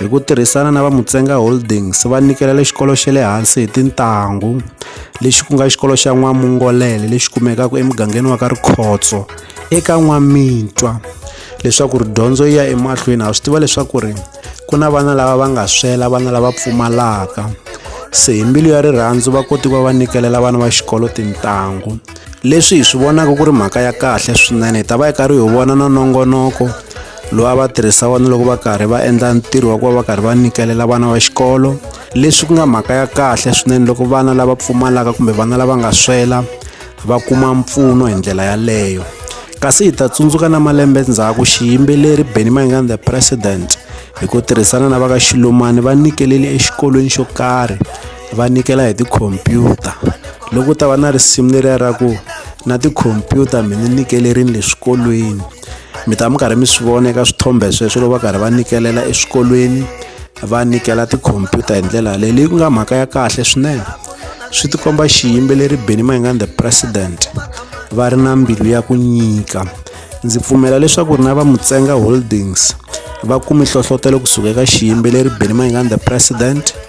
Hi ku tirhisana na va Mutsenga Holdings va nyikele xikolo xa le hansi hi tintangu lexi ku nga xikolo xa N'wamungolele lexi kumekaka emugangeni wa ka Rikhotso eka N'wamitwa leswaku ri dyondzo yi ya emahlweni ha swi tiva leswaku ri ku na vana lava va nga swela vana lava pfumalaka se hi mbilu ya rirhandzu va kote ku va va nyikela vana va xikolo tintangu. leswi hi swi vonaka ku ri mhaka ya kahle swinene hi ta va hi karhi hi vona na nongonoko lowu a va tirhisa wona loko va karhi va endla ntirho wa ku va va karhi va nyikelela vana va xikolo leswi ku nga mhaka ya kahle swinene loko vana lava pfumalaka kumbe vana lava nga swela va kuma mpfuno hi ndlela yaleyo kasi hi ta tsundzuka na malembe ndzhaku xiyimbeleri benny mangan the president hi ku tirhisana na va ka xilumani va nyikelele exikolweni xo karhi va nyikela hi tikhompyuta loko ta va na risimu leriya ra ku na tikhompyuta mi ni nyikelerini le swikolweni mi ta mi karhi mi swi vona eka swithombe sweswo loko va karhi va nyikelela eswikolweni va nyikela tikhompyuta hi ndlela yaleyo leyi ku nga mhaka ya kahle swinene swi tikomba xiyimbeleri benny mayingani the president va ri na mbilu ya ku nyika ndzi pfumela leswaku ri na va mutsenga holdings va kume hlohlotelo kusuka eka xiyimbeleri benny mayingani the president